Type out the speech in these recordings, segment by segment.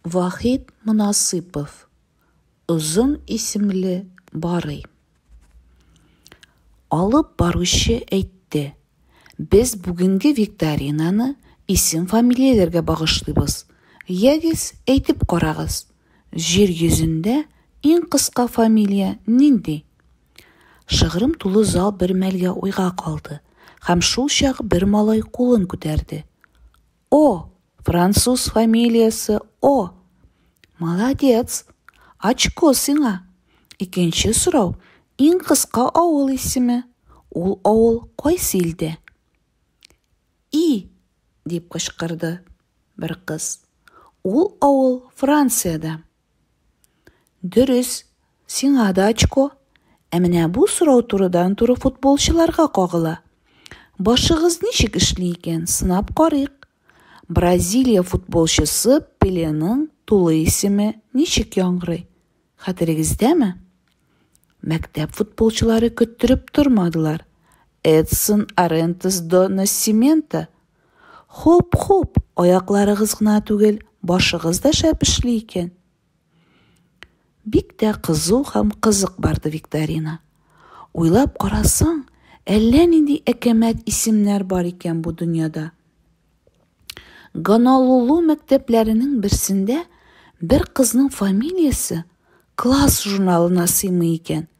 Вахит Монасыйпов озын исемле барый. Алып баручы әйтте, без бүгенге викторинаны исем-фамилияләргә багышлыйбыз. Ягез, әйтеп карагыз, җир йөзендә иң кыска фамилия нинди? Шыгрым тулы зал бер мәлгә уйга калды һәм шулчак бер малай кулын күтәрде. О! Француз фамилиясе О! Молодец! Очко сиңа! Икенче сорау, иң кыска авыл исеме. Ул авыл кайсы илдә? И! дип кычкырды бер кыз. Ул авыл Франциядә. Дөрес, сиңа да очко. Ә менә бу сорау турыдан-туры футболчыларга кагыла. Башыгыз ничек эшли икән, сынап карыйк. Бразилия футболчысы Пеленың тулы исеме ничек яңгырый, хәтерегездәме? Мәктәп футболчылары көттереп тормадылар, Эдсон Арентес до Нассименто! Хуп-хуп, аякларыгыз гына түгел, башыгыз да шәп эшли икән. Бик тә кызу һәм кызык барды викторина. Уйлап карасаң, әллә нинди әкәмәт исемнәр бар икән бу дөньяда. Ганалулу мәктәпләренең берсендә бер кызның фамилиясе класс журналына сыймый икән.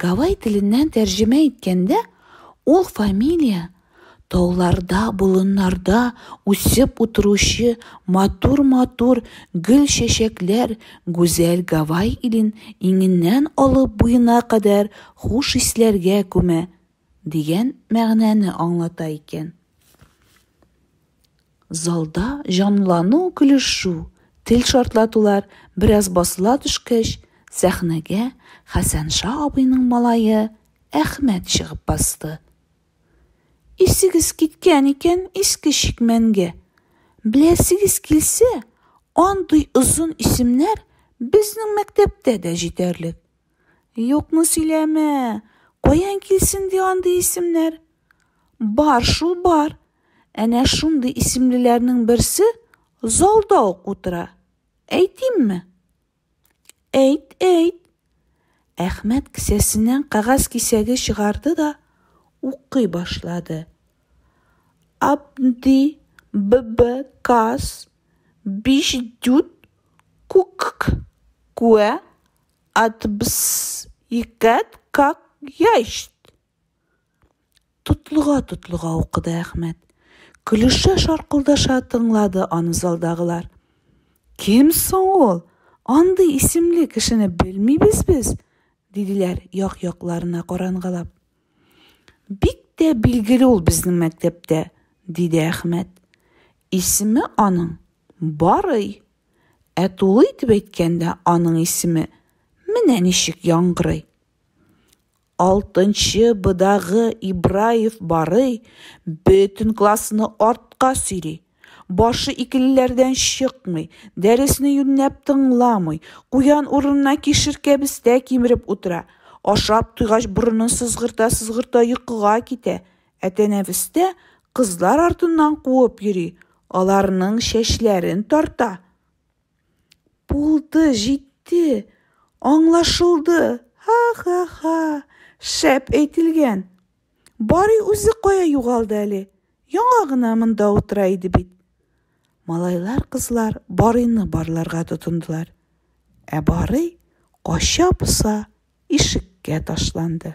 Гавай теленнән тәрҗемә иткәндә, ул фамилия тауларда, болыннарда үсеп утыручы матур-матур гөл-чәчәкләр, гүзәл Гавай илен иңеннән алып буена кадәр хуш исләргә күмә, дигән мәгънәне аңлата икән. Залда җанлану, көлешү, тел шартлатулар бераз басыла төшкәч, сәхнәгә Хәсәнша абыйның малае Әхмәт чыгып басты. Исегез киткән икән иске чикмәнгә. Беләсегез килсә, андый озын исемнәр безнең мәктәптә дә җитәрлек. Юкны сөйләмә! Каян килсен ди андый исемнәр? Бар шул бар. Әнә шундый исемлеләрнең берсе залда ук утыра. Әйтимме? Әйт, әйт. Әхмәт кесәсеннән кәгазь кисәге чыгарды да укый башлады. Абди ББ Кас Биш Дют Кукк Куә Атбс икәт как ящт! Тотлыга-тотлыга укыды Әхмәт. Көлешә-шаркылдаша тыңлады аны залдагылар. Кем соң ул? Андый исемле кешене белмибез без, диделәр як-якларына карангалап. Бик тә билгеле ул безнең мәктәптә, диде Әхмәт. Исеме аның Барый. Ә тулы итеп әйткәндә, аның исеме менә ничек яңгырый. Алтынчы быдагы Ибраев барый, бөтен классны артка сөйри. Башы икелеләрдән чыкмый, дәресне юньнәп тыңламый, куян урынына кишеркә бестә кимереп утыра, ашап туйгач борынын сызгырта-сызгырта йокыга китә, Ә тәнәфестә кызлар артыннан куып йөри, аларның чәчләрен тарта. Булды, җитте, аңлашылды, ха-ха-ха, шәп әйтелгән. Бари үзе кая югалды әле, яңа гына монда утыра иде бит. Малайлар-кызлар Барыйны барларга тотындылар. Ә Барый кача-поса ишеккә ташланды.